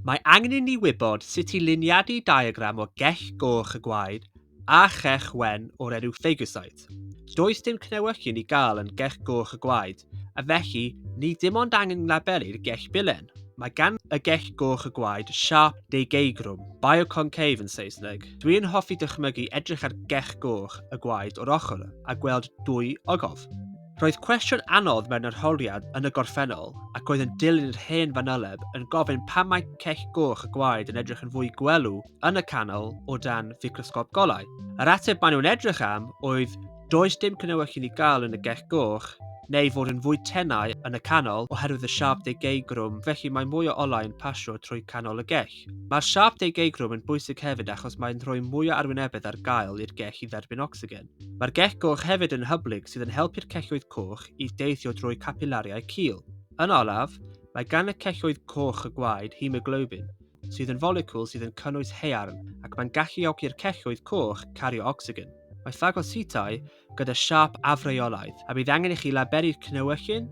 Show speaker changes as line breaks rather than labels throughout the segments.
Mae angen i ni wybod sut i liniadu diagram o gell goch y gwaed a chech wen o'r enw Fagocyte. Does dim cnewyllyn i gael yn gell goch y gwaed, a felly ni dim ond angen nglabelu'r gell bilen. Mae gan y gell goch y gwaed siâp deugeigrwm, bioconcave yn Saesneg. Dwi yn hoffi dychmygu edrych ar gell goch y gwaed o'r ochr a gweld dwy ogof. Roedd cwestiwn anodd mewn arholiad yn y gorffennol ac oedd yn dilyn yr hen fanyleb yn gofyn pam mae cech goch y gwaed yn edrych yn fwy gwelw yn y canol o dan ficrosgop golau. Yr ateb maen nhw'n edrych am oedd does dim cnywech i ni gael yn y gech goch neu fod yn fwy tenau yn y canol oherwydd y siap deugeigwrwm felly mae mwy o olau yn pasio trwy canol y gech. Mae'r siap deugeigwrwm yn bwysig hefyd achos mae'n rhoi mwy o arwynebedd ar gael i'r gech i dderbyn ocsigen. Mae'r gec goch hefyd yn hyblyg sydd yn helpu'r celloedd coch i deithio drwy capilariau cul. Yn olaf, mae gan y celloedd coch y gwaed hemoglobin, sydd yn folecwl sydd yn cynnwys haearn ac mae'n galluogi'r celloedd coch cario ocsigen. Mae ffagocytau gyda siâp afreolaidd a bydd angen i chi labelu'r cnewyllyn,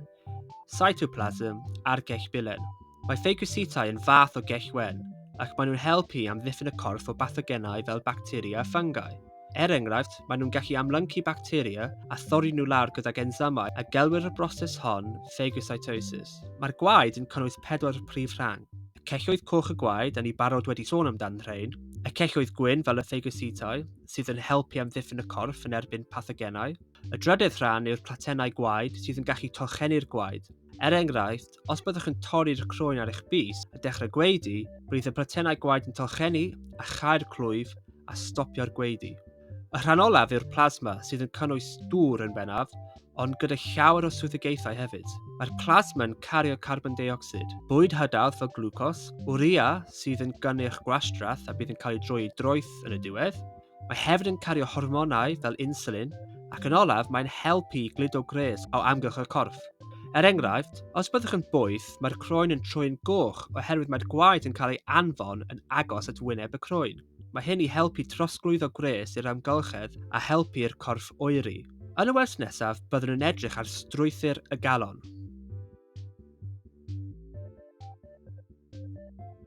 cytoplasm a'r gell bilen. Mae ffagositau yn fath o gell wen, ac maen nhw'n helpu i amddiffyn y corff o bathogenau fel bacteria a ffangau. Er enghraifft, maen nhw'n gallu amlyncu bacteria a thorri nhw lawr gydag ensymau a gelwir y broses hon ffagocytosis. Mae'r gwaed yn cynnwys pedwar prif rhang, y celloedd coch a gwaed, a ni barod wedi sôn amdan rhein, y celloedd gwyn fel y ffagositau, sydd yn helpu amddiffyn y corff yn erbyn pathogenau. Y drydedd rhan yw'r platennau gwaed sydd yn gallu torchennu'r gwaed, Er enghraifft, os byddwch yn torri'r croen ar eich bys a dechrau gwaedu, bydd y pratennau gwaed yn tolchennu a chau'r clwyf a stopio'r gwaedu. Y rhan olaf yw'r plasma sydd yn cynnwys dŵr yn bennaf, ond gyda llawer o swyddogaethau hefyd. Mae'r plasma yn cario carbon deuocsid, bwyd hydawdd fel glwcos, urea sydd yn gynnyrch gwastraff a bydd yn cael ei droi i droeth yn y diwedd, Mae hefyd yn cario hormonau fel insulin, ac yn olaf mae'n helpu i gludo gwres o amgylch y corff. Er enghraifft, os byddwch yn boeth, mae'r croen yn troi'n goch oherwydd mae'r gwaed yn cael ei anfon yn agos at wyneb y croen. Mae hyn i helpu trosglwyddo gwres i'r amgylchedd a helpu i'r corff oeri. Yn y wers nesaf, byddwn yn edrych ar strwythur y galon.